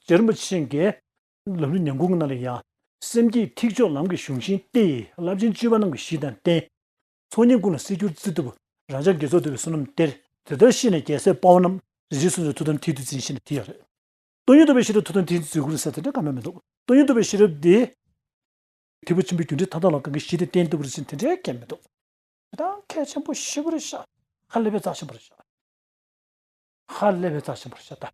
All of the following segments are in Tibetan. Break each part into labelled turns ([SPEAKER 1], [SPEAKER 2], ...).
[SPEAKER 1] ཇེར་མ་ཕྱིན་གྱི། ལམ་ལུས་ཉམས་གུང་ན་ལ་ཡང། སེམས་བསྐྱེད་ཐིག་ཆོག་ལམ་གྱི་གཞུང་བཞིན་ཏེ། རླབས་ཆེན་སྤྱོད་པ་རྣམས་ཀྱི་གཞི་དང་རྟེན། ཚོགས་གཉིས་ཀུན་ལ་གསེར་འགྱུར་རྩི་ཐུབ། རང་ཅག་དགེ་ཚོགས་འདུ་བའི་བསོད་ནམས་གཏེར། དེ་ལྟར་ཤེས་ནས་རྒྱལ་སྲས་དཔའ་བོ་རྣམས། རིག་བྱེད་སུམ་ཅུ་ཐུགས་དམ་མཐིལ་དུ་འཛིན་ཤེས་ན་དེ་ཡང་རེད། སྟོན་ཉི་ཐུབ་པའི་ཤེས་རབ་ཐུགས་དམ་མཐིལ་དུ་འཛིན་དགོས་རེད་ཟེར་དེ་འདྲ་གང་ན་མི་འདུག་སྟོན་ཉི་ཐུབ་པའི་ཤེས་རབ་འདི། ཐེག་པ་ཆེན་པོའི་རྒྱུ་འབྲས་མཐའ་དག་ལ་གང་གི་གཞི་དེ་རྟེན་འདུག་རེད་ཟེར་དེ་འདྲའི་སྐད་མི་འདུག། དེ་དག་མཁས་ཆེན་པོ་ཤི་བོར་བཤགས། ཧ་ལས་པའི་རྩ་ཆེན་པོར་བཤགས། ཧ་ལས་པའི་རྩ་ཆེན་པོར་བཤགས།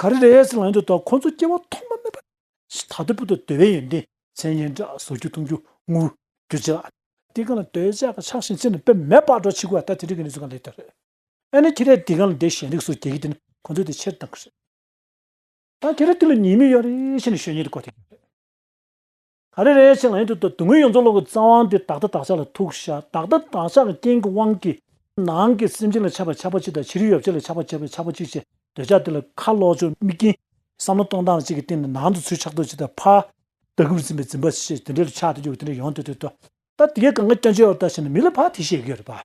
[SPEAKER 1] ག་རེ་རེད་ཟེར་ལངས་ཡོང་དུས་ད་ཁོང་ཚོ་སྐྱེ་བ་ཐོག་མ་མེད་པ། ད་ལྟ་བུ་དང་དུ་བའི་ཡོན་ཏན་མཚན་སྙན་གྲགས་བཟོ་རྒྱུ་གཏོང་རྒྱུ་ངུ་རྒྱུ་བྱེད་ལ། འདི་གང་ལ་དོལ་ཇག་གི་ཕྱག་བཞེས་མཚན་ནས་དཔེ་མེད་པར་འགྲོ་བྱེད་དགོས་ད་དེ་འདྲ་གི་གནས་ཚུལ་གང་ལེགས་ཐོན་རེད། ཨ་ནི་ཁྱེད་རས་འདི་གང་ལ་འདི་གཞན་རིགས་སུ་རྒྱལ་གི་དེ་ནི་ཁོང་ཚོས་དེ་ཕྱིར་བཏང་གི་རེད། ད་ཁྱེད་རས་དེ་ལ་ཉེས་མིག་ཡོད་རེད་ཞེས་ནས་ཞོ་ཉེ་དུ་བཀོད་ཐེངས་ཡོད་རེད། ཨ་རེ་རེ་ཞིག་ལ་ཡིན་དུས་དུ་ངོས་ཡོངས་རྫོགས་ཀློང་གི་རྩ་དབང་དེ་བདག་ལྟ་བདག་ཅག་ལ་ཐུག་བཞག་བདག་ལྟ་བདག་ཅག་གི་རྐྱེན་གྱི་དབང་གིས་ནང་གི་སེམས་ཅན་ལ་ཆགས་པའི་ཆགས་པ་གཅིག་དང་བྱི་རུའི་ཡོ་བྱད་ལ་ཆགས་པ་བྱེད་པའི་ཆགས་པ་གཅིག་ཅེས་འདོད་ཆགས་དེ་ལ་ཁ་ལོག་ཆོ་མིག་གྱིས་བསམ་བློ་གཏོང་སྟངས་གཅིག་གི་སྟེང་ནས་ནང་དུ་ཚུལ་ཆགས་རྡོ་རྗེ་དང་ཕ་རྟགས་ཀུན་འཛིན་པའི་འཛིན་པ་ཞེས་དེ་འདྲའི་ལ་ཆགས་དེ་འཇུག་དེ་འདྲའི་ཡོང་དུས་དུས་དུ་ད་དེ་གའི་གང་ག་སྐྱོན་ཆེ་བ་ལྟ་བྱས་ནས་མི་ལ་ཕ་དེ་ཞེས་བརྗོད་རེད་པ།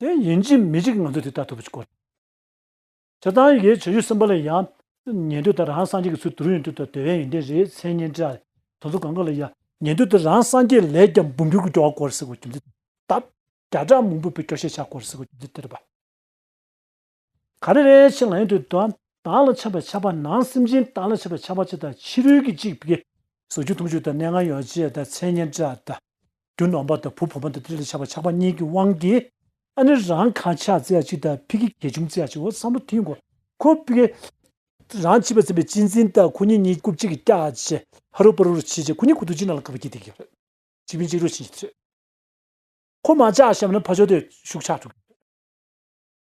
[SPEAKER 1] དེ་ཡིན་གྱི་མི་གཅིག་ང་ཚོས་དེ་ལྟར་ཐུབ་པ་ཞིག་གོ། བྱེད་སྟངས་ཡི་གེའི་བྱེད་རྒྱུ་གསུམ་པ་ལ་ཡང། ཉན་ཐོས་དང་རང་སངས་རྒྱས་ཀྱི་ཚུལ་དུ་རུ་ཡོན་ཏུ་དང་དོལ་ཡན་ཡོན་ཏན་རེའི་མཚན་སྙན་བཀྲལ། དང་ཚུལ་གང་གི་ལ་ཡང། ཉན་ཐོས་དང་རང་སངས་རྒྱས་ལས་ཀྱང་འབུམ་འགྱུར་གྱི་སྐྱོ་བ་སྐོར་སིག་བ་རྒྱུ་མཚན་དེ་ལྟ། བརྒྱ་ཕྲག་མང་པོས་པའི་སྐྱོ་ཤས་ཆགས་སྐོར་སིག་བ་རྒྱུ་མཚན་དེ་ལྟ་བ། ག་རེ་རེ་བྱེད་ང་ཡོད་དུ་དོ། བདག་ལ་ཆགས་པའི་ཆགས་པ་ནང་སེམས་ཅན་བདག་ལ་ཆགས་པའི་ཆགས་པ་གཅིག་དང་ཕྱི་རོལ་གྱི་གཅིག་བགེགས། ཟུག་ཆུ་འཐུང་ཆུ་དང་གནས་ལྔ་ཡོ་བྱད་དང་མཚན་སྙན་སྒྲ་དང། རྒྱུ་ནོམ་པ་དང་བུ་བུ་མོ་དང་ཏིལ་ལ་ཆགས་པའི་ཆགས་པ་གཉིས་ཀྱི་དབང་གིས། ཨ་ནི་རང་ག་ཆགས་རྩེ་ཡ་གཅིག་དང་ཕི་གི་གས་ཆུམ་རྩེ་ཡ་གཅིག་འོ་བསམ་བློ་ཐིང་གོ། ཁོ་བི། རང་བྱིས་པ་ཚིམ་པའི་གཅིག་འཛིན་དང་ཁོ་གཉིས་གཉིས་རྐུབ་གཅིག་གིས་བཀྱག་བྱེད། ཧ་རུ་པ་རུ་རུ་བྱེད་བྱེད་ཁོ་གཉིས་ཁུ་ཐུ་གཅིག་ནང་ལ་བཀག་པ་གྱིས་དེ་གིས་རེད། གཅིག་བིན་གཅིག་རུ་བྱིན་གྱིས་རེད། ཁོ་མ་ཆགས་ཞབས་ན་ཕ་ཆོ་དེ་ཤུགས་ཆགས་ཐུག་གི་རེད།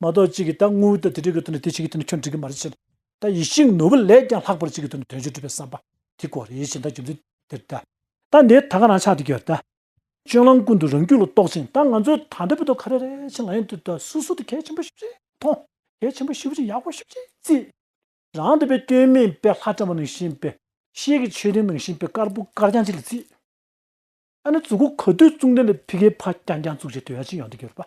[SPEAKER 1] མ་གཏོགས་གཅིག་གིས་ད་དངོས་བོའི་དོན་དེ་འགྲིག་གི་དོན་ནི་དེ་གཅིག་གི་དོན་ནི་ཁྱོད་འགྲིག་གི་མ་རེད་ཅེས་ད་ཡིད་བཞིན་ནོར་བུ་ལས་ཀྱང་ལྷག་པར་གཅིག་གི་དོན་ནི་དོན་གཅིག་འགྲུབ་པའི་བསམ་པ་དེ་གོ་རེ་ཞེས་ད་རྒྱུ་མཚན་དེར་ད། ད་འདིའི་ད་ག་རང་ཆགས་དེ་གྱོད་ད། སྤྱོད་ལམ་ཀུན་ཏུ་རང་རྒྱུད་ལ་རྟོག་ཅིང་ད་ང་ཚོའི་ད་འདྲ་བོའི་དོན་ག་རེ་རེད་ཅེས་ང་ཡང་དུས་ད་སུ་སུ་དེ་གལ་ཆེན་པོ་ཤུགས་ཆེ་མཐོང། གལ་ཆེན་པོ་ཤུགས་ཆེ་ཡག་པོ་ཤུགས་ཆེ་བརྩི། རང་དེ་བས་སྐྱོན་མེད་པའི་ལྷ་བཀྲ་བ་ནང་བཞིན་པའི། ཤེལ་གྱི་མཆོད་རྟེན་ནང་བཞིན་པའི་དཀར་པོ་དཀར་རྐྱང་ཅིག་ལ་བརྩི། ད་ནི་ཙུག་གུ་ག་དུས་བཙུགས་འདི་ལས་ཕི་གའི་ཕ་རྐྱང་རྐྱང་བཙུགས་ཅེས་དོན་ཡག་ཅིག་ཡོང་དེ་གྱོད་པ།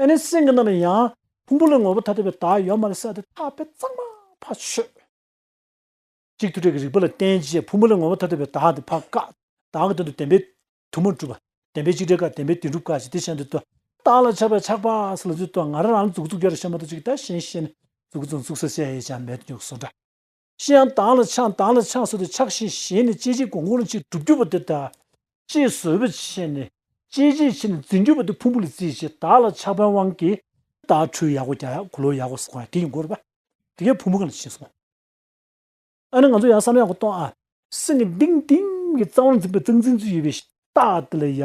[SPEAKER 1] ཨེ་ནི་སེང་གེ་རྣམས་ལ་ཡང། ཕུང་པོ་ལས་ངོ་བོ་ཐ་དད་པའི་བདག་ཡོད་མ་ལ་སྲེད་དེ་ཐག་པས་གཙང་མ་བ་ཆོད། གཅིག་ཐུག་ཕྲད་ཀྱི་རིགས་པ་ལ་བརྟེན་རྗེས་ཕུང་པོ་ལས་ངོ་བོ་ཐ་དད་པའི་བདག་དེ་བ་ཀ། བདག་གི་དོན་དུ་བདེན་པའི་དུ་མ་གྲུབ། བདེན་པའི་གཅིག་བྲལ་ཀ་བདེན་པའི་དེ་འགྲུབ་ཀ་ཞེས་དེ་གཞན་དུ་བསྟོད། བདག་ལ་ཆགས་པའི་ཆགས་པ་ས་ལ་རྫུས་བསྟོད། ང་རང་རང་ལ་རྫུགས་རྫུགས་རྒྱ་རུ་ཤེས་མ་ཐུབ་ཅིག་བདག་གཞན་ཤེས་ནས་རྫུགས་རྫུགས་རྫུགས་ས་བྱས་ཡེ་བྱ་མེད་དུ་རྒྱུགས་སོ་འདྲ། ཅི་ཡང་དྭངས་ལ་འཆང་དྭངས་ལ་འཆང་ཟེར་དུ་ཆགས་ཞེན་ཞེན་ནས་སྐྱེ་མཆེད་གོང་གོང་ལ་ཅིག་གྲུབ་གྱུར་པ་དེ་དག། ཅེས་བཟོད་པའི་ཆེད་ནས་སྐྱེ་མཆེད་ཕྱེ་ནས་འཛིན་གྱུར་པ་དེ་ཕུང་པོ་ལ་བརྩིས་ཞེས་དག་ལ་ཆགས་པའི་དབང་གིས། དག་འཕྲོའི་ཡག་གོ་རྒྱ་ཡག་གོ་ལོ་ཡག་གོ་ཟེར་བ་ཡང་དེ་ཡིན་དགོས་རེད། དེ་གས་ཕུང་པོ་གང་ལ་ཕྱིན་སོང། ཨ་ནི་ང་ཚོ་ཡང་བསམ་ཡག་གོ་གཏོང་ཨ། སེམས་ཀྱི་ཏིང་ཏིང་གི་རྩ་བར་འཛིན་པའི་རྩ་འཛིན་ཚུལ་ཡོད་པའི་ཕྱིར། རྟགས་དེ་ལ་ཡ།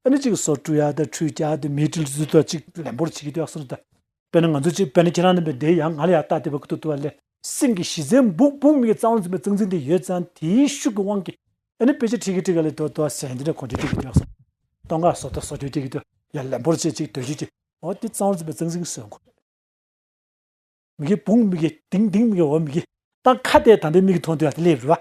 [SPEAKER 1] ཨ་ནི་གཅིག་གི་སོ་ཀྲུ་ཡ་དང་ཁྲུས་བྱ་དེ་མེའི་དྲིལ་བུ་དང་གཅིག་ལེན་པོར་བྱེད་ཀྱི་དེ་ཡག་སོ་ད། དཔེར་ན་ང་ཚོ་གཅིག་དཔེར་ན་ཁྱེད་རང་རྣམ་པས་དེའི་ཡ་ང་ལ་ཡ་རྟགས་དེ་བ་ཀི་ཏུ་ཏུ་བ་ལས། སེམས་ཀྱི་གཞི་རྩའི་འབུག་འབུག་མིག་གི་རྩ་བ་འཛིན་པའི་རྩ་འཛིན་དེ་ཡོད་ཙང་དེའི་ཤུགས་ཀྱི་དབང་གིས་ཨ་ནི་དཔེ་ཆ་ཁྲིག་གི་ཁྲིག་ག་ལས་ཏུ་ཏུ་བ་ཟན་དེ་འདྲ་གོ་འདྲི་ཁྲིག་གི་དེ་ཡག་སོ། སྟོང་ཁ་སོ་ཏུ་སོ་ཁྱོད་ཁྲིག་གི་ཏུ་ཡ་ལེན་པོར་བྱེད་ཅིག་དོན་བྱེད་ཀྱི། འོ་དེ་རྩ་བ་འཛིན་པའི་རྩ་འཛིན་གྱི་སྲོལ་འགོ། མིག་གི་འབུག་མིག་གི་ལྡིང་ལྡིང་མིག་གི་འོ་མིག་གི། སྟངས་ཁ་དེ་དམ་པའི་མིག་གིས་མཐོང་དུ་ཡ་དེ་ལས་རུ་བ།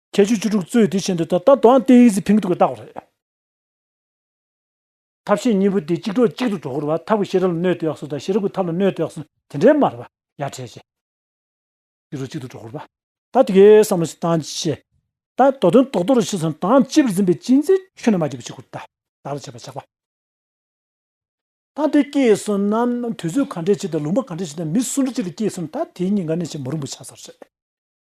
[SPEAKER 1] ཁྱད་ཆོས་བཅུ་དྲུག་གཙོས་དེ་བཞིན་དུ་ད་ལྟ་དུའང་སྟེ་ཡིག་ཟི་ཕིང་ཐུག་གི་བཏགས་པ་རེད། ཐབས་ཤེས་གཉིས་པོ་དེ་གཅིག་གྲོགས་གཅིག་ཏུ་གྲོགས་འཁོར་བ་ཐབས་ཀྱི་ཤེས་རབ་ལ་གནོད་དེ་ཡགས་སོ་དང་ཤེས་རབ་ཀྱི་ཐབས་ལ་གནོད་དེ་ཡགས་སོ་དེ་འདྲའི་མ་རེད་པ་ཡ་ཁྲེས་ཆེ། གཅིག་གྲོགས་གཅིག་ཏུ་གྲོགས་འཁོར་བ། ད་དེ་གའི་བསམ་བློ་ཞིག་བཏང་ཅི་བྱེད། ད་དོ་དོན་རྟོགས་དོ་རུ་ཤི་སོང་དང་ལྕི་བར་འཛིན་པའི་གཅིག་འཛིན་ཆོས་ནི་མ་གྱུར་པ་ཞིག་ཁུར་ད་ད་རུ་བྱེད་པ་ཆགས་པ། ད་དེ་སྐྱེས་སོང་ན་དུས་ཚོད་ག་འདྲས་ཆེ་དང་ལུང་པ་ག་འདྲས་ཆེ་དང་མི་སུ་འདྲ་ཅིག་ལ་སྐྱེས་སོང་ད་དེ་གཉིས་ག་ནས་ཆེས་མོ་རིང་པོ་ཆགས་ས་རེད།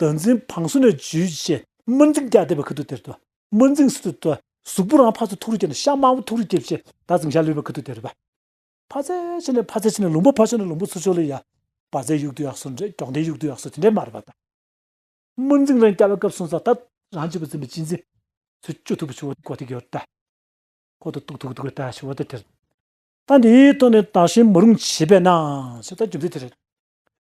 [SPEAKER 1] དོན་འཛིན་བང་སོ་ནས་བརྗོད་བྱའི་དམར་འཛིང་རྒྱ་བཟླས་པའི་ཁུ་དུག་དེར་དུ་དམར་འཛིང་སི་ཏུ་དུ། གཟུགས་པོ་རང་ཕ་ཚོ་ཐུགས་རུས་སྐྱེ་ནས་ཤ་དམར་པོ་ཐུགས་རུས་སྐྱེ་བྱེད་ད་ཙམ་ཞག་ལུས་པའི་ཁུ་དུག་དེར་བ། ཕ་ཚེ་ཆེ་ནས་ཕ་ཚེ་ཆེ་ནས་ལུང་པ་ཕ་ཆོ་ནས་ལུང་པོ་ཚུ་ཆོ་ལུ་ཡ། བ་ཚའི་དབྱུག་ཏུ་ཡག་སོ་འདྲེ་སྒྱོགས་མདའི་དབྱུག་ཏུ་ཡག་སོ་དེ་འདྲའི་མར་བ་དང། དམར་འཛིང་རང་སྐྱ་བའི་སྐབས་སོང་ཙང་ད་རང་སྐྱེ་བོ་འཛིན་པའི་སྤྱི་འཛིན། ཚུ་སྐྱོ་ཐུག་པོ་ཆུ་བོ་གོ་ཐིག་ཡོར་ད། ཁོ་ཐུག་ཐུག་ཐུག་ཐུག་ད་ཆུ་བོ་ད་དེར། ད་འདིའི་ཐོག་ནས་དག་ཞིང་མ་རུང་བྱེད་པས་ན་ཞེས་ད་རྒྱུ་མཚན་དེ་རེད།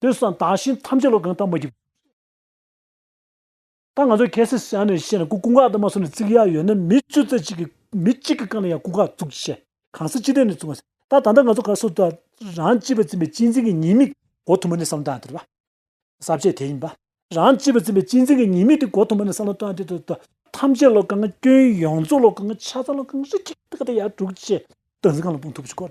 [SPEAKER 1] དེ་སང་དག་ཤིང་ཐམས་ཅད་ལོ་གང་ཐང་མ་རྒྱུག། ད་ང་ཚོ་གལ་སྲིད་སང་ནས་བཤད་ན་ཀུ་ཀུ་འགག་དུ་མ་སོང་ནས་བརྩིག་ཡག་ཡོད་ན་མི་བཅུ་རྩ་གཅིག་གི་མི་གཅིག་གི་རྐང་ལ་ཡང་ཀུ་འགག་བཙུག་ཅེས་བཤད་གང་སྲིད་ཅི་སྟེ་ནས་བཙུག་གང་སྲིད་ད་ད་ལྟ་ང་ཚོ་ག་སོ་ད་རང་སྤྱི་བ་འཛིན་པའི་སྤྱི་འཛིན་གི་ཉེས་དམིགས་གོ་ཐུབ་མ་ནས་བསམ་བློ་བཏང་དེ་རེད་པ། ཟབ་བཅས་དེ་ཡིན་པ། རང་སྤྱི་བ་འཛིན་པའི་སྤྱི་འཛིན་གི་ཉེས་དམིགས་དེ་གོ་ཐུབ་མ་ནས་བསམ་བློ་བཏང་དེ་ད་ད་ཐམས་ཅད་ལོ་གང་སྐྱོན་ཡོངས་རྫོགས་ལོ་གང་ཆ་ཚང་ལོ་གང་རིགས་ཀྱི་ཐུགས་ཀ་དེ་ཡར་དྲུག་ཅེས་སྟངས་འཛིན་གང་ལ་སྤུངས་ཐུབ་ཅིག་གོ།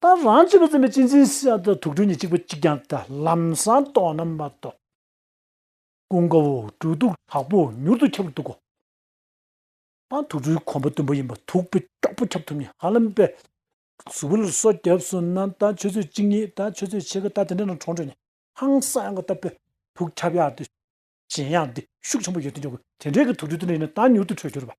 [SPEAKER 1] ད་རང་ཅིག་པུ་ཙམ་པའི་སྤྱི་མཚན་བཤད་དུ་དུག་སྦྲུལ་ནི་གཅིག་པུ་གཅིག་ཀྱང་ལྟ་ལམ་སངས་རྟོགས་རྣམ་པར་རྟོག། ཀུན་དགའ་བོ་སྦྲུལ་དུག་དྲག་པོ་མྱུར་དུ་ཁྱབ་འདུག་གོ། ད་དུག་སྦྲུལ་གོང་པོ་དུམ་བུ་ཡིན་པ་དུག་པོ་དཀྱོག་པོ་ཁྱབ་ཐུབ་ནི་ཧ་ལམ་པས། གཟུགས་པོ་ལ་སོགས་སྐྱབས་སུ་མནའ་ད་ཆོས་ཚོད་གཅིག་གཉིས་ད་ཆོས་ཚོད་ཕྱེད་ཀ་ད་དེ་འདྲ་རྣམས་གྲོངས་བྲོས་ནས་ཧང་སངས་ཡང་གོ་ད་པས་དུག་ཁྱབ་ཡག་འདི། གཞན་ཡང་འདི་ཤུགས་ཆེན་པོ་ཡོད་དུ་འཇོག་གོ་དེ་འདྲའི་གི་དུག་སྦྲུལ་དེ་འདྲ་ཡིན་ན་ད་མྱུར་དུ་འཕྲོད་འགྱུར་བ།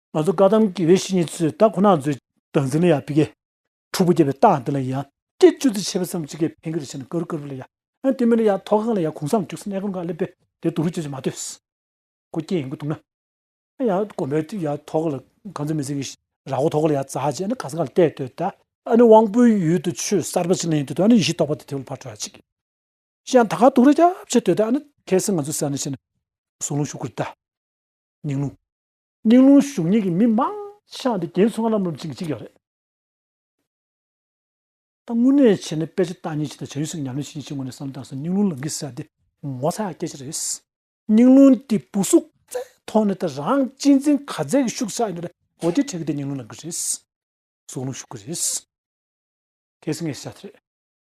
[SPEAKER 1] ང་ཚོ་བཀའ་གདམས་དགེ་བའི་བཤེས་གཉེན་ཚོས་ད་ཁོ་ན་མཛོད། བདག་འཛིན་ལ་ཡང་ཕི་གེ། ཁྲོ་བོ་རྒྱལ་བའི་རྟགས་འདི་ལ་ཡང། སྐད་ཅུ་ཙི་ཆེ་བ་ཙམ་གཅིག་གེ་ཕན་གི་རེ་བྱས་ན་ཀ་རུ་ཀ་རུ་ལ་ཡང། ཨན་དེ་མིན་ན་ཡང་མཐོ་སྒང་ལ་ཡང་གུང་སངས་བཅུག་སེ་གནས་གང་ག་ལེ་བེ་དེ་དུ་རུ་ཅི་ཅི་མ་ལྟོས། ཁོ་སྐྱེ་ཡིན་གི་འདུག་ན། ཨན་ཡང་དགོན་པའི་ཡང་མཐོ་སྒང་ལ་གང་ཙི་མི་ཙི་གི་ར་སྒོ་མཐོ་སྒང་ལ་ཡང་བཙའ་ཅི་ཨན་ག་ས་ག་ལ་བལྟས་ལྟོས་ད། ཨན་དབང་པོའི་ཡུལ་དུ་ཆོས་གསར་པ་ཅིག་གླེང་ལྟོས་ད་ཨན་ཡེ་ཤེས་རྟོགས་པ་དེ་དེ་བ་ལ་ཕར་བྲོ་ཡ་ཅིག་གི། ཤི་ཡང་ད་ག་འདུག་རེ་རྒྱབ་བྱས་ལྟོས་ད་ཨན་གལ་སྲིད་ང་ཚོ་སེ་ཨན་ཤི་ན། གཟུང་ལུང་ཞུ་དགོས་རེ་ད། ཉིང་ལུང། སྙིང་རླུང་གཞུང་གཉིས་ཀྱི་མི་མང་ཤངས་ཏེ་རྒྱན་ཚོགས་ལམ་རུམ་ཅིག་ཅིག་ཡོད་རེད། ད་དངོས་གནས་བྱས་ནས་དཔེ་ཆ་བཏགས་ཉིན་ཅིག་དང་བྱ་ཡུལ་ཞིག་ཉམས་ལེན་བྱེད་ཉིན་ཅིག་ངོ་ནས་བསམ་དང་སྙིང་རླུང་ལང་ཀི་ཟེར་འདི་ངོ་ཚ་ཡག་སྐད་ཆ་རེད། སྙིང་རླུང་དེ་སྤུ་གཟུགས་རྩའི་ཐོག་ནས་ད་རང་གཅེས་འཛིན་ག་ཚད་ཀྱི་ཤུགས་ཆགས་ཡོད་རེད་གོ་དེ་འཕྲད་གི་དེ་སྙིང་རླུང་ལང་ཀི་རེད། གཟུགས་རླུང་ཤུགས་ཀྱི་རེད། གལ་སྲིད་ངས་བཤད་ཚེ།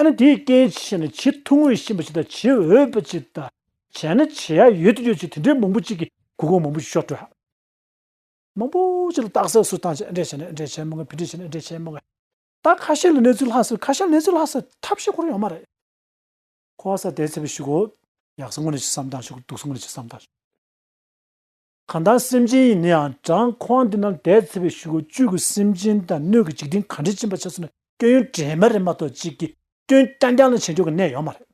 [SPEAKER 1] ཨ་ནི་དེའི་རྐྱེན་ཅི་ཞེ་ན་བྱེད་ཐུང་ངུ་ཞིག་ཡིན་པ་ཅིག་དང་བྱེད་འོས་པ་ཅིག་དང་བྱས་ན་བྱེད་ཡ་ཡོད་དུ་ཡོད་ཅིག་དེ་འདྲའི་མང་པོ་ཅིག་གིས་གུ་གུ་མང་པོ་ཞིག་ཤོར་སྤྲོད་ཧ། མང་པོ་ཅིག་ལ་རྟགས་གསལ་སུ་དང་ཅིག་འགྲེལ་བྱས་ནས་འགྲེལ་བྱེད་མང་ངེས་ཕུད་འགྲེལ་བྱས་ནས་འགྲེལ་བྱེད་མང་ངེས། རྟགས་ཁ་ཤས་ལ་གནས་ཚུལ་ལྷག་སྲིད་ཁ་ཤས་ལ་གནས་ཚུལ་ལྷག་སྲིད་ཐབས་ཤེས་ཁོ་རང་ཡོད་མ་རེད། ཁོ་བ་ས་དེ་ཚེ་བས་ཞུགས་གོ། ཡག་སོང་ངོ་ནས་ཅིག་བསམ་སྟངས་ཞུགས་གོ་སྡུག་སོང་ངོ་ནས་ཅིག་བསམ་སྟངས་ཞུགས། གང་ལྟར་སེམས་ཅན་ཡིན་ནའང་བྲང་ཁོང་འདི་ན་ལས་ཚེ་བའི་ཞུ་བ་བཅུད་ཀྱི་སེམས་ཅན་དང་སྣོད་ཀྱི་འཇིག་རྟེན་གང་དྲན་ཕྱིན་པ་ཆགས་ཚུལ་ནི་སྐྱོན་ཡོན་དྲན་མ་རེད་མ་གཏོགས་གཅིག་གིས་སྐྱོན་རྐྱང་རྐྱང་ལ་བྱེད་འཇོག་གི་གནས་ཡོད་མ་རེད།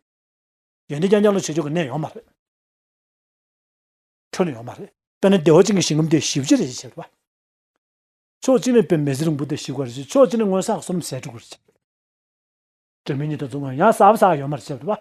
[SPEAKER 1] ཡོན་ཏན་རྐྱང་རྐྱང་ལ་བྱེད་འཇོག་གི་གནས་ཡོད་མ་རེད། འཁྲུལ་ཡོད་མ་རེད། དཔེར་ན་སྡེ་བ་གཅིག་གི་ཞིང་ཁམས་དེ་ཞི་བྱེད་རེ་བྱས་པ། ཕྱོགས་གཅིག་ནས་བོད་མི་ཟི་རིང་པོ་དེ་ཞི་བ་རེ་བྱས་ཕྱོགས་གཅིག་ནས་སྔོན་བསགས་སོར་མོ་ཟད་འགྲོ་དགོས་རེ་བྱས་པ། བོད་མི་གཉིས་དང་མཚུངས་ང་ཡང་བསགས་པ་ཟག་ཡོད་མ་རེ་བྱས་པ།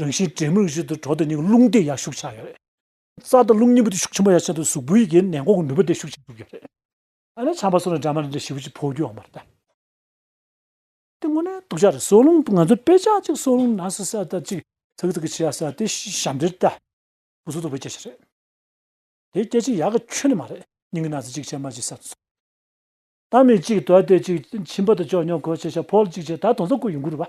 [SPEAKER 1] རང་བཞིན་དྲེད་མོ་རང་བཞིན་དུ་གྲོགས་དེ་གཉིས་ཀྱི་རླུང་དེ་ཡར་ཤུགས་ཆགས་ཡོད་རེད། རྩ་དང་རླུང་གཉིས་པོ་དེ་ཤུགས་ཆེན་པོ་ཡར་ཆགས་དུས་གཟུགས་པོའི་ཡི་གེའི་ནད་འགོག་གི་ནུས་པ་དེ་ཤུགས་ཆེན་པོ་ཡོད་རེད། ཨ་ནེ་ཆང་པ་སོགས་ནི་སྦྲང་མ་རེ་འདྲ་བྱིས་པ་གཅིག་ཕོག་རྒྱུའང་མ་རེད་ད། དེ་དངོས་གནས་སྡུག་ཅག་རེད་སྲོག་རླུང་ང་ཚོ་དཔེ་ཆ་གཅིག་སྲོག་རླུང་ནར་སོན་སར་ད་གཅིག་ཚག་ཚག་གི་བྱས་ཡག་སར་དེ་ཞབས་འདྲེར་ད། ཕུགས་སུ་སྡུག་པའི་སྐྱེ་བྱེད་རེད། དེ་སྐྱེ་བྱེད་ཡག་གི་ཁྱོན་ནས་མ་རེད་སྙིང་གི་ན་ཚ་གཅིག་བྱས་མར་གཅིག་སར་དུ་སོང། ད་མི་གཅིག་དོར་དེ་གཅིག་ཁྱིམ་པ་དུ་ཅོག་ཉོ་གོ་བྱས་ཤ་ཕོར་གཅིག་བྱས་ད་དོང་ཙམ་ཀུ་ཡོང་གི་རུ་བ།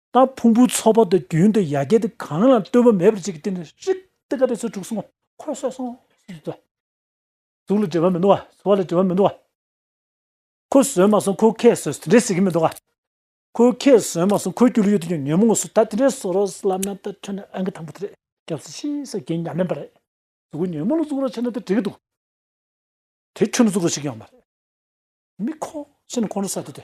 [SPEAKER 1] ད་ཕུང་པོའི་ཚོགས་པ་དེ་རྒྱུན་དུ་ཡ་གྱལ་ཏེ་གང་ལ་ལྟོས་བ་མེད་པར་བྱེད་ཀྱི་སྟེང་ནས་ཧྲིག་ཏུ་དགའ་བའི་ཚུལ་དྲུག་གསུངས། འཁོར་སོགས་གསུངས། གཟུགས་ལ་འབྲེལ་བ་མི་འདུག་ག་ཚོར་བ་ལ་འབྲེལ་བ་མི་འདུག་ག། ཁོ་བཟོད་མ་སོང་ཁོ་ཁས་བཟོས་དེ་འདྲས་ཟེར་གྱི་མི་འདུག་ག། ཁོ་ཁས་བཟོས་མ་སོང་ཁོའི་སྐྱོ་ལུས་ཡོད་དོ་ཅོག་ཉོན་མོངས་སུ་ད་དེ་འདྲས་བཟོ་རོགས་ལབ་ན་ད་ཁྱོད་ནི་ཨ་མཁན་དང་པོ་དེ་རེད་སྐྱབས་སུ་མཆི་ས་རྒན་ཉམས་ལེན་པ་རེད་གཟུགས་ཉོན་མོངས་ལ་གཟུགས་རོགས་བྱས་ན་དེ་འགྲིག་གི་འདུག་དེ་ཁྱོད་ནི་གཟུགས་རོགས་བྱེད་ཀྱི་ཡང་མ་རེད། མི་ཁོ་ཁྱེད་ནི་ཁོང་ཁྲོ་ཟ་དེ་དེ།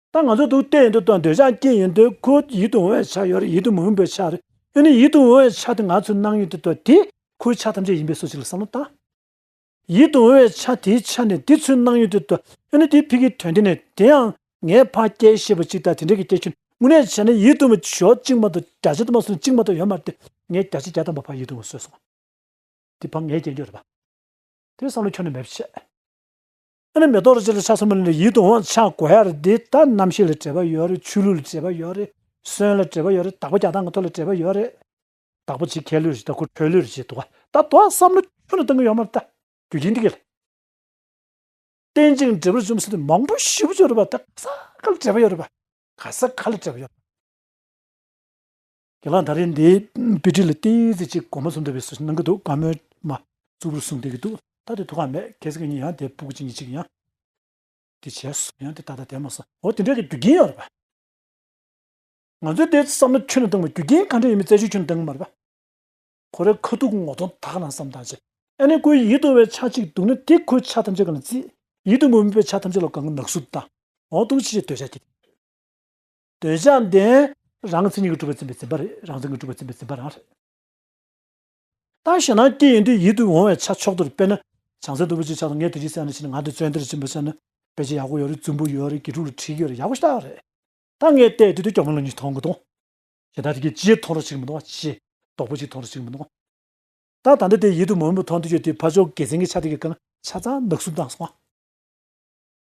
[SPEAKER 1] ད་ང་ཚོ་ཐུག་བལྟས་ཡོད་དུ་ལྟོས་འདོད་ཆགས་སྐྱེས་ཡོད་དུས་ཁོ་ཡིད་དུ་འོང་བའི་ཆ་ཡོད་རེད་ཡིད་དུ་མི་འོང་པའི་ཆ་རེད་ཡོད་ནི་ཡིད་དུ་འོང་བའི་ཆ་དེ་ང་ཚོས་སྣང་ཡོད་དུ་ལྟོས་དེ་ཁོའི་ཆ་ཐམས་ཅད་ཡིན་པའི་སོ་ཅིག་ལ་བསམ་བློ་བཏང། ཡིད་དུ་འོང་བའི་ཆ་དེའི་ཆ་ནས་དེ་ཚོའི་སྣང་ཡོད་དུ་ལྟོས་ཡོད་ནི་དེའི་ཕི་གིའི་དོན་དེ་ནས་དེའང་ངའི་ཕ་སྐད་ཤེས་པ་ཅིག་དང་དེ་འདྲའི་གི་སྐད་ཁྱོད་དངོས་གནས་བྱས་ན་ཡིད་དུ་མི་ཆོག་གཅིག་མ་གཏོགས་བརྒྱ་ཆ་དུ་མ་སོང་གཅིག་མ་གཏོགས་ཡོད་མ་རེད་ངས་བརྒྱ་ཆ་བརྒྱ་ཐམ་པ་ཕ་ཡིད་དུ་འོང་བཟོས་སོང། དེ་ཕ་ངའི་སྐྱེས་མཆོག་རེད་པ། དེ་བསམ་བློ་ཁྱོན་ནས་མེད་པ་ཆེ། ཨ་ནི་མེ་ཏོག་རེད་ཅེས་ལ་ཆ་ཚང་མ་ལེན་ནས་ཡིད་དུ་འོང་བ་ཆགས་དགོས་ཡ་རེད་འདི་ལྟ་རྣམ་ཤེས་ལ་བྲེལ་བ་ཡོད་རེད་ཆོས་ལུགས་ལ་བྲེལ་བ་ཡོད་རེད་སོན་ལ་བྲེལ་བ་ཡོད་རེད་དྭགས་པོ་རྒྱ་ཐང་གི་ཐོག་ལ་བྲེལ་བ་ཡོད་རེད། དྭགས་པོ་བྱེད་མཁས་ལོས་བྱེད་ད་ཁོ་ཁྲོས་ལོས་བྱེད་དོ་ད་དོ་བསམ་བློ་ཁྱོན་ལ་གཏོང་གི་ཡོད་མ་རེད་ད་རྒྱུ་རྐྱེན་འདི་གས་ལ། བསྟན་ཅིང་འབྲེལ་བར་བཅོམ་ཟེར་ནས་མང་པོ་ཞིབ་བརྗོད་རེད་པ་ད་ག་ས་ག་ལ་བྲེལ་བ་ཡོད་རེད་པ་ག་ས་ག་ལ་བྲེལ་བ་ཡོད་རེད། དགེ་ལགས་ད་རེས་འདིའི་དཔེ་ཁྲིད་ལ་བསྟན་ཡུལ་ཚིག་གཅིག་གོ་མ་ཚུམ་འདུག་པའི་སོ་སོ་ནང་གི་དུག་དཀར་མོའི་མ་རྩུབ་རུ་གསུངས་བསྡད་ཀྱི་འདུག་ད་དེ་ཐུག་ཁག་མེད་གལ་སྲིད་ཁྱེད་ཉིད་ཡང་དེ་སྤུ་གུ་གཅིག་གཉིས་གཅིག་ཡང་དེ་བྱས་སོང་ཡང་དེ་ད་ལྟ་དེ་མ་སོང་འོ་དེ་འདྲ་གི་རྒྱུ་རྐྱེན་ཡོད་རེད་པ། ང་ཚོས་དེ་བསམ་ན་ཆོས་ནང་བཏང་བའི་རྒྱུ་རྐྱེན་གང་འདྲ་ཡིན་མིན་བཙལ་བྱོས་ཆོས་ནང་བཏང་གི་མ་རེད་པ། ཁོ་རེ་ཁ་ཐུག་ངོ་གདོང་དག་ལངས་སམ་བཏང་བྱས་ཨ་ནེ་ཁོའི་ཡིད་དུ་བའི་ཆ་གཅིག་འདུག་ན་དེ་ཁོའི་ཆ་ཐམས་ཅད་གང་ལ་བརྩིས་ཡིད་དུ་མི་འོས་པའི་ཆ་ཐམས་ཅད་ལ་གང་གི་ནག་བསུབ་བཏང་འོང་འདུག་ཅེས་ལྟོས་བྱ་གྱི་འདུག། འདོད་ཆགས་ལྡན། རང་མཚན་ཉིད་ཀྱི་གྲུབ་པའི་མཚན་པའི་འཛིན་པ་རེད། རང་མཚན་གྱི་གྲུབ་པའི་མཚན་པའི་འཛིན་པ་རང་རེད། ལྟ་ཞེ་ན་སྐྱེ་ཡིན་དུས་ཡིད་དུ་འོང་བའི་ཆ་མཆོག་ཏུ་རེ་དཔེར་ན། བྱང་སེམས་སྟུག་པོ་ཅིག་ཆགས་སོང་ངས་དེ་གཅིག་བསད་ན་ཕྱིན་ན་ང་འདི་བཙོན་དེར་ཕྱིན་པར་བསད་ན། དཔེ་ཆ་ཡག་པོ་ཡོད་རེད་རྫུན་པོ་ཡོད་རེད་དགེ་ཕྲུག་ལ་འཁྲིག་ཡོད་རེད་ཡག་པོ་ཤྟག་རེད། ད་ངས་བལྟས་དུས་དེ་སྐྱོ་མོ་ལོ་གཉིས་མཐོང་གི་འདུག་ཞེ་སྡང་རི་སྐྱེས་ཇེ་མཐོང་རོ་ཅིག་མི་འདུག་བ་ཇེ་དོག་པོ་ཅིག་མཐོང་རོ་ཅིག་མི་འདུག་ད་ད་འདི་དེ་ཡིད་དུ་མོ་མོ་མཐོང་དུས་ཁྱོད་དེ་ཕ་ཅོག་དགེ་མཚན་གྱི་ཆ་དེ་གི་གང་ཆ་ཚང་ནག་གསུབ་བཏང་སོང་ཨ།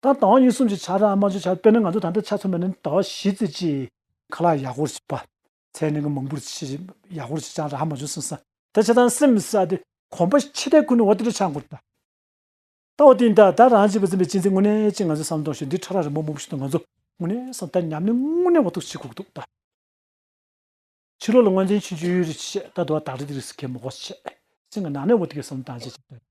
[SPEAKER 1] ད་དང་བ་གཉིས་གསུམ་གྱི་ཆ་ར་རྨ་ཆུ་ཆར་དཔེར་ན་ང་ཚོ་ད་ལྟ་ཆ་མཚོན་པ་ནི་ད་བ་བཞི་བརྩེགས་ཀྱི། ཁ་ལག་ཡག་ཧོར་བྱེད་པ། ཚད་ནི་ང་མང་པོར་བྱེད། ཡག་ཧོར་བྱེད་ཅང་ར་རྨ་ཆུ་སོན་ས། ད་ཆ་དང་སེམས་ས་དེ་གོམ་པ་ཕྱེ་ལྟས་ཁུ་ནུ་བ་དེ་འདྲ་ཆགས་འགོ་ད། ད་བ་དེ་འདྲ་ད་རང་བྱེད་པ་འཛིན་པའི་སྤྱི་མཚན་དངོས་གནས་ཅི་ང་ཚོས་བསམ་དོང་ཞིག་འདི་ཁྲ་ར་རི་མོ་མོག་པོ་ཞིག་དང་ང་ཚོ་དངོས་གནས་སམ་ད་ཉམས་ལེན་དངོས་གནས་བ་ཐུགས་ཆེ་གུག་འདུག་ད། ཕྱི་ལོག་ལ་དངོས་འཛིན་ཆུ་འཇུ་ཡུལ་རི་བྱེད་ད་དུ་བ་དག་རི་དེ་རིགས་སུ་ཁས་མོག་བ་བྱེད། སེམས་ང་ནག་ནས་བ་དེ་གས་སམ་དང་བྱེད་བྱེད་ད།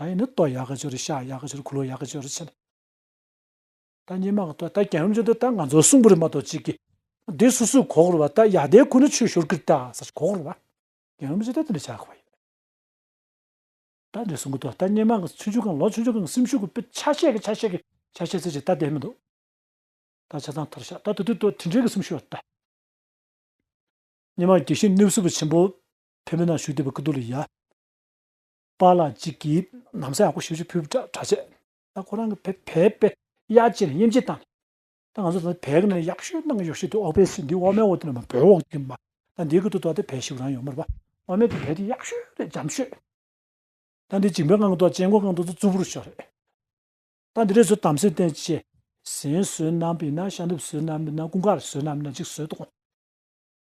[SPEAKER 1] ད་ཡིན་ན་ཏོ་ཡག་ག་ཅོར་ཤ་ཡག་ག་ཅོར་ཁུ་ལོ་ཡག་ག་ཅོར་བྱེད་ན། ད་ཉི་མ་ག་ཏོ་ད་གྱང་རིམ་ཅོ་ཏོ་ད་ང་ཚོ་སུང་པུ་རི་མ་ཏོ་ཅིག་གི་དེ་སུ་སུ་གོག་རུ་བ་ད་ཡག་དེ་ཁུ་ནུ་ཆུ་ཤོར་ཀིར་ཏ་ས་ཆུ་གོག་རུ་བ་གྱང་རིམ་ཅོ་ཏོ་དེ་འདྲ་བྱ་གི་བ་ཡོད། ད་འདྲ་སུང་གི་ཏོ་ད་ཉི་མ་གི་ཆུ་ཆུ་གང་ལོ་ཆུ་ཆུ་གང་སིམ་ཤུག་གི་པི་ཆ་ཤས་གི་ཆ་ཤས་གི་ཆ་ཤས་ཚེ་ཅི་ད་དེ་མི་འདུག་ད་ཆ་ཚང་ཐར་ཤ་ད་དུ་དུ་ཏོ་དྲིན་དྲིན་གི་སིམ་ཤུག་ཡོད་ཏ། ཉི་མ་གྱིས་ཤིང་ནུབ་སུ་བུ་ཆེན་པོ་ཕེ་མེ་ན་ཤུག་དེ་བུ་ཀི་ཏུ་ལི་ཡ། པ་ལ་གཅིག་གིས་ནམ་སྲས་ཨ་ཁུ་ཞིག་ཅིག་ཕུལ་བའི་གྲྭ་བྱས། ད་ཁོ་རང་གི་བས་བས་པས་གཡའ་བྱས་ནས་དབྱེ་འབྱེད་བཏང། ད་ང་ཚོ་ད་བས་གི་ནས་གཡའ་བཤོས་གནང་གི་ཡོད་ཤེས་འདུག་ཨོ་བས་སུས་འདི་ཨོ་མའི་འོག་ཏུ་ནས་མ་བོའི་འོག་ཏུ་མ། ད་འདི་གི་ཏུ་ཏོ་ཏེ་བས་ཤིག་རང་ཡོད་མོད་པ། ཨོ་མའི་ཏུ་བས་འདི་གཡའ་བཤོས་རེད་འཇམ་བཤོས། ད་འདི་འཇིང་པའི་སྔགས་ཏུ་གཅེན་མགོ་སྔགས་ཏུ་ཏུ་རྩུབ་པོར་ཤོག་རེད། ད་འདི་རེ་བཟོ་དམ་སྲས་བསྟན་བཅས། ཟན་བཟོས་རྣམ་པས་ན་ཤ་འདུབ་བཟོས་རྣམ་པས་ན་ཀུན་དགའ་བཟོས་རྣམ་པས་ན་འཇིགས་བཟོས་དང།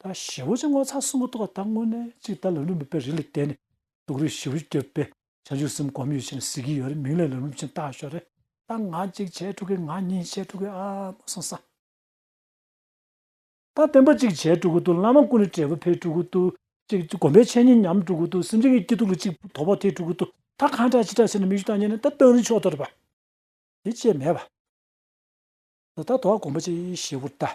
[SPEAKER 1] ད་བཞི་བོ་ཆེ་ངོ་ཚ་གསུམ་པོ་ཐོག་ད་དངོས་གནས་གཅིག་ད་ལམ་ལུགས་མེད་པའི་རིགས་ལ་བལྟས་ནས་དུག་རིགས་བཞི་བོ་ཆེ་གྱོད་པས་བྱང་ཆུབ་སེམས་གོམས་ཡོད་ཕྱིར་གཟིགས་ཀྱི་ཡོད་རེད་མིང་ལས་ལམ་ལུགས་ཆེན་བཏགས་ཤོག་རེད་ད་ང་གཅིག་བྱས་དཀྲུག་གི་ང་གཉིས་བྱས་དཀྲུག་གི་ཨ་མ་སང་སང། ད་བསྟན་པ་གཅིག་བྱས་དཀྲུག་གི་འདུག་བླ་མ་ཀུན་ནས་བྲལ་བ་ཕེབས་དཀྲུག་གི་འདུག་གཅིག་སྒོམ་པའི་འཆད་ཉན་ཉམས་དཀྲུག་གི་འདུག་སེམས་ཅན་གྱི་སྐྱིད་སྡུག་ལ་གཅིག་དོ་ཕོག་ཐེག་དཀྲུག་གི་འདུག་ད་གང་དྲག་ཅི་དྲག་ཟེར་ནས་མིག་ཆུ་དག་ཉན་ནས་ད་གཏང་རིན་ཆོག་དོར་པ་དེ་བཅས་མེད་པ། ད་ད་དོ་བ་གོམས་པ་ཅིག་བཞི་བོར་བལྟ།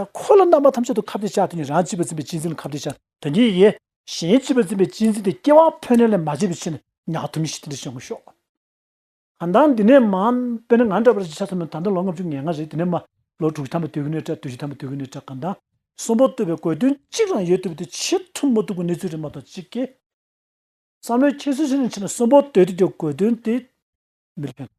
[SPEAKER 1] ད་འཁོར་ལོ་རྣམ་པ་ཐམས་ཅད་དུ་ཁ་བརྡའི་ཕྱག་དེ་ནི་རང་བྱིས་པ་འཛིན་པའི་སྤྱི་འཛིན་ལ་ཁ་བརྡའི་ཕྱག་དོན་གྱི་ཡི་གེ། གཞན་བྱིས་པ་འཛིན་པའི་སྤྱི་འཛིན་དེ་སྐྱེ་བ་འཕོས་ནས་ལས་མ་བྱས་པའི་ཕྱིར་ན་ཉག་ཐུན་མི་ཤིས་ཏེ་འདིར་བཤད་ངོ་ཤོག། གང་ལྟར་འདི་ནས་མ། དཔེར་ན་ང་འདྲ་བ་རེ་ཅིག་ཆ་ཚང་མས་ད་ལྟ་ལོ་ལྔ་བཅུ་ངེས་ངང་རེད་དེ་ནས་མ། ལོ་དྲུག་ཐམ་པ་དུས་ཀུན་ནས་བཀྲ་དུས་བཞི་ཐམ་པ་དུས་ཀུན་ནས་བཀྲ་གང་ལྟར། གསུམ་པོ་བསྟོད་པའི་དགོས་དོན་གཅིག་རང་ཡོད་དུས་པ་དེ་ཕྱིར་ཐུབ་མ་ཐུབ་ཀྱི་གནས་ཚུལ་རེད་མ་གཏོགས་གཅིག་གི། བསམ་བློའི་ཁྱད་གསོད་བྱེད་རིང་ཕྱིན་ན་གསུམ་པོ་བསྟོད་དུས་ཀྱི་དགོས་དོན་དེ། མི་རིགས་ཕན་ཐོགས།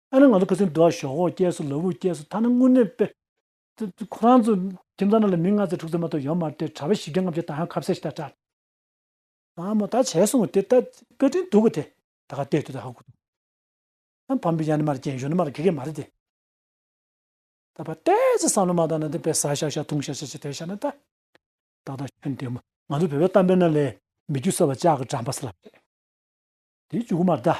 [SPEAKER 1] ཨ་ནི་ང་ཚོ་ཁ་སིང་འགྲོ་བ་ཞོག་ཧོ་སྐྱས་སུ་ལ་བུ་སྐྱས་སུ་ཐ་ན་དངུལ་གནས་དཔེ། ཁོ་རང་ཚོ་ཁྱིམ་ཚང་ནང་ལ་མི་ལྔ་ཚོ་དྲུག་ཚོ་མ་གཏོགས་ཡོད་མ་རེད་དྲ་བའི་བཞི་བརྒྱ་ལྔ་བརྒྱ་ད་ཧང་ཁ་བསད་ཤི་ད་དྲག། ཨ་མོ་ད་བྱས་སོང་དེ་ད་བཀའ་དྲིན་འདུག་གོ་དེ་ད་ག་ལྟས་དུས་ད་ཧ་གོ་འདུག་ཨ་བམ་པོ་ཡ་ནི་མ་རེད་རྒྱན་གཞོན་ནུ་མ་རེད་གེ་གེ་མ་རེད་དེ། ད་པ་ཏས་ཅི་བསམ་བློ་མ་བཏང་ན་དེ་བས་ཟ་ཤག་ཤག་འཐུང་ཤག་ཤག་བྱས་དེ་ཤག་ན་ད། ཏག་ཏག་ཁྱོད་འདས་མོ་ང་ཚོ་བོད་པའི་གཏམ་དཔེ་རྣམས་ལས་མི་རྒྱུ་གསར་བ་ལྕགས་ཀྱི་འགྲམ་པ་སེ་ལབ་རེད་དེ་བཅུ་དགུ་མར་ད།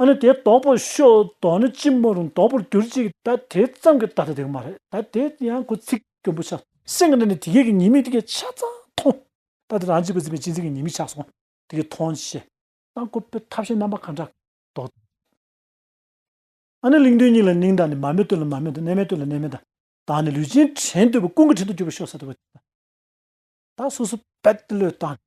[SPEAKER 1] ཨ་ནི་དེ་དོག་པོ་ཤོག་དོག་ནི་ཅི་མ་རུང་དོག་པོར་གྱུར་ཅིག་ད་དེ་ཙམ་གྱི་ད་ལྟ་དེ་ག་མ་རེད་ད་དེ་ཡང་ཁོ་ཚིག་སྐྱོན་པོ་ཆགས་སེམས་ཀྱི་ནང་ནས་དེ་གས་ཀྱི་ཉེས་དམིགས་དེ་གས་ཆ་ཚང་མཐོང་ད་དེ་རང་གཅིག་པུ་འཛིན་པའི་སྤྱི་འཛིན་གྱི་ཉེས་དམིགས་ཆགས་སོང་དེ་གས་མཐོང་ཤེས་དང་ཁོ་པའི་ཐབས་ཤེས་རྣམ་པ་གང་འདྲ་དོག་ཨ་ནི་གླིང་དོན་སྙིང་ལ་སྙིང་དང་ནི་མར་མེ་སྟོན་ལ་མར་མེ་དང་གནས་མལ་སྟོན་ལ་གནས་མལ་དང་དང་ནི་ལུས་ཅན་བྲན་དུ་བའི་ཀུན་གྱི་བྲན་དུ་གྱུར་པའི་ཤོག་ས་དེ་བ་ཅིག་དང་ད་སོ་སོ་བད་བློས་བཏང་ནས།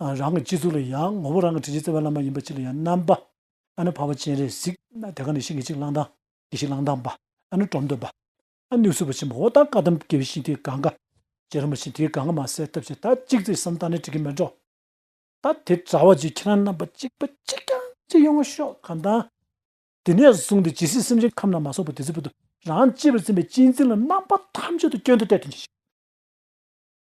[SPEAKER 1] རང་གི་སྤྱི་གཙུག་ལ་ཡང་ངོ་བོ་རང་གི་དྲིན་ཅན་བརྩེ་བའི་བླ་མ་ཡིན་པ་ཅི་ལ་ཡང་རྣམ་པ། ཨ་ནུ་བྷ་བ་སྤྱན་རས་གཟིགས། དེ་ག་ནས་ཤིག་ངེད་ཅིག་བླང་དང། གྱིས་ཤིག་བླང་དང་བ། ཨ་ནུ་གྲོམ་འདོད་བ། ཨ་ནུ་གསུས་པ་ཆེན་པོ་འོ་དང་ཀ་དམ་སྐྱེ་བའི་ཤིང་དེའི་གང་ག། ཅེ་ར་མ་ཤིང་དེའི་གང་ག་མ་གསལ་ཐབས་ཤེས་ད་གཅིག་བརྩེ་བསམ་བཏང་ནས་དྲི་གིས་མི་འགྲོ། ད་དེ་དྲ་བ་བརྗོད་ཁྱེད་རང་རྣམ་པ་གཅིག་པ་གཅིག་ཀྱང་ཅི་ཡོང་བ་ཤོག་གམ་དང། དེ་ནས་བཟུང་སྟེ་ཇི་སྲིད་སེམས་ཅན་ཁམས་རྣམས་མ་སོགས་པ་དེ་སྲིད་བར་དུ་རང་གཅེས་པར་འཛིན་པའི་གཅེས་འཛིན་ལ་རྣམ་པ་ཐམས་ཅད་དུ་སྐྱོན་དུ་གཏད་དོན་གྱིས་ཤིག།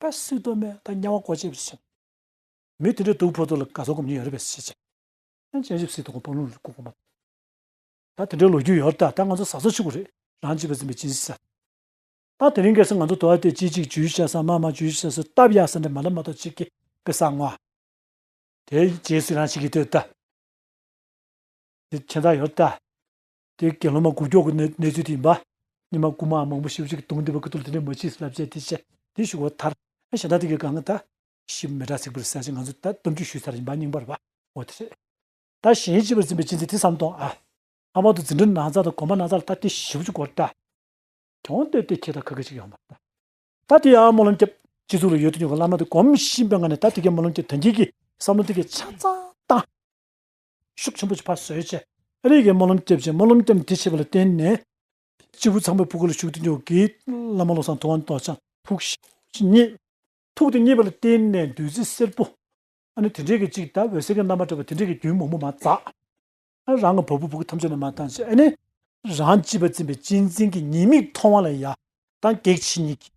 [SPEAKER 1] པ་སུས་གཏོལ་མེད་ད་དམྱལ་བ་སྒོ་འབྱེད་པའི་ཕྱིར། མི་དེ་འདྲའི་གདུག་ཕོག་དུག་ལ་ག་ཚོད་སྒོམ་ཉེན་ཡོད་རེད་པས་ཤེས་བྱ། ཨེ་ཅེ་ཇིབ་སི་དུ་གོ་འཕང་ལུང་རིག་སྐུ་གོང་མ་དང། ད་དེ་འདྲའི་ལོ་རྒྱུས་ཡོད་ད་ད་ང་ཚོ་ཟ་ཟོ་ཆུ་ཁོ་རེད་རང་གཅིག་པ་འཛིན་པའི་སྤྱིན་སྲིད་ས་ད་དེ་རིང་གེ་སར་ང་ཚོ་དུ་བ་དེ་ཅི་ཅིག་ཇུས་བྱ་ས་མ་མ་ཇུས་བྱ་ས་སྟབས་ཡག་ས་འདྲ་མ་ལ་མ་ཏོག་ཅིག་གེ་པེ་ས་ངོ། དེའི་རྗེས་སུ་རང་གཅིག་གིས་ལྟོས་ད། དེ་ཁྱེད་ད་ཡོད་ད། དེ་དགེ་སློང་མ་དགུ་མགྱོགས་ཀྱི་གནས་ཚུལ་དེ་ཡིན་པ། སྙེ་མ་རྐུན་མ་མང་པོ་ཤི་བོ་ཞིག་གི་དུང་འདི་བ་ཀི་ཏུ་ལ་དེ་འདྲའི་མ་མཆིས་སུ་ལབ་ཅེས་དེ་བཤད་དེ་བཞུགས་བ་མཐར། ཨེ་ཞེ་ད་དེ་གའི་གང་གི་ད། ཤི་མེ་དྲག་ཚིག་པར་ཟད་ཅིང་ང་ཚོ་ད་གཏམ་རྒྱུད་ཞུས་ཚར་ཡིན་པ་སྙིང་པར་བ་འོ་དེ་རེད། ད་གཞན་སྤྱི་བར་འཛིན་པའི་སྤྱི་མཚན་དེ་བསམ་དོང་ཨ། ལྷག་པར་དུ་འཛིན་གྲྭ་ན་ཚ་དང་གོམ་པ་ན་ཚ་ལ་ད་དེ་བཞི་བ་ཅུ་གོ་ད། གྱོང་བཏོད་དེ་ཁྱེད་ད་ག་གི་ཅིག་ཡོང་བ་ད། ད་དེ་ཡང་སྨོན་ལམ་སྐྱབས་སྤྱི་གཙུག་ལ་ཡོད་དུ་ཉོ་གི་བླ་མ་དེ་གོམས་གཤིས་པའི་ངང་ནས་ད་དེ་གའི་སྨོན་ལམ་གྱི་དོན་གྱིས་གི་བསམ་བློ་དེ་གའི་ཆ་ཚང་བཏང། ཤུགས་ཆེན་པོ་བྱེད་པ་བཟོས་ཆེད་རིགས་ཀྱི་སྨོན་ལམ་བསྐྱེད་ཅིང་སྨོན་ལམ་བསྐྱབས་འདི་བྱས་པ་ལ་བརྟེན་ནས། སྤྱིལ་བུ་ཚངས་པའི་སྤུ་གུ་ལ་ཞུགས་ཏེ་འཇོག་གི། བླ་མ་བློ་བཟང་ཐུབ་དབང་རྡོ་རྗེ། ཐུགས་བཞེད་བརྙེས། ཐུགས་དེ་བརྙེས་པ་ལ་བརྟེན་ནས་བདུད་རྩི་སེར་པོ། ནི་དེ་འདྲའི་གཅིག་དང་འོད་ཟེར་གྱི་རྣམ་པར་སྤྲོས་པ་དེ་འདྲའི་རྒྱུན་མོག་མོག་མ་འཛག། རང་གི་བ་སྤུ་སྤུ་གུ་ཐམས་ཅད་ནས་མ་བཏང་ཞིག་ཨ་ནི། རང་སྤྱི་བ་འཛིན་པའི་གཅེས་འཛིན་གྱི་ཉེས་དམིགས་མཐོང་བ་ལ་ཡ། དང་གེགས་བྱེད་ཉིད་ཀྱི།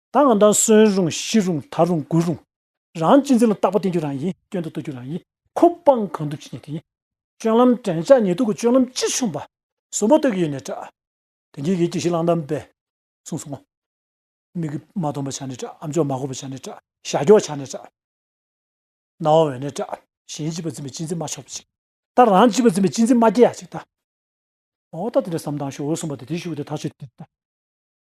[SPEAKER 1] ད་འང་ད་གསོན་རུང་ཤི་རུང་ཐར་རུང་རྒུད་རུང། རང་གཅེས་འཛིན་ལ་རྟག་པ་བསྟེན་རྒྱུ་རང་ཡིན་སྐྱོན་དུ་བཏུལ་རྒྱུ་རང་ཡིན་ཁོ་སྤངས་གང་ཐུབ་བྱེད་རྒྱུ་དེ་ཡིན། སྤྱོད་ལམ་དྲན་བྱ་ཉེ་དུ་གི་སྤྱོད་ལམ་ཅི་བྱུང་བ། གསུམ་པོ་སྟོད་ཀྱི་ཡུལ་ནས་བསྒྲགས། དེང་དུས་ཀྱི་ཀྱི་ཤི་ལང་དམ་པས་གསུངས་སོང་ངོ། མིག་གིས་མ་མཐོང་པ་བྱས་ནས་བསྒྲགས་ཨམ་ཅོག་མ་གོ་བ་བྱས་ནས་བསྒྲགས་ཞྭ་གྱོགས་བྱས་ནས་བསྒྲགས། རྣ་བ་བས་ནས་བསྒྲགས་གཞན་གཅེས་པར་འཛིན་པའི་གཅེས་འཛིན་མ་ཆོག་པ་ཅིག་ད་རང་གཅེས་པར་འཛིན་པའི་གཅེས་འཛིན་མ་སྐྱེ་ཡག་ཅིག་ད། འོ་ད་དེ་འདྲ་བསམ་སྟངས་ཤོག་འོད་སྲུང་པ་དེ་དེ་ཞུ་བ་དེ་ཐག་ཆོད་དེ་ད།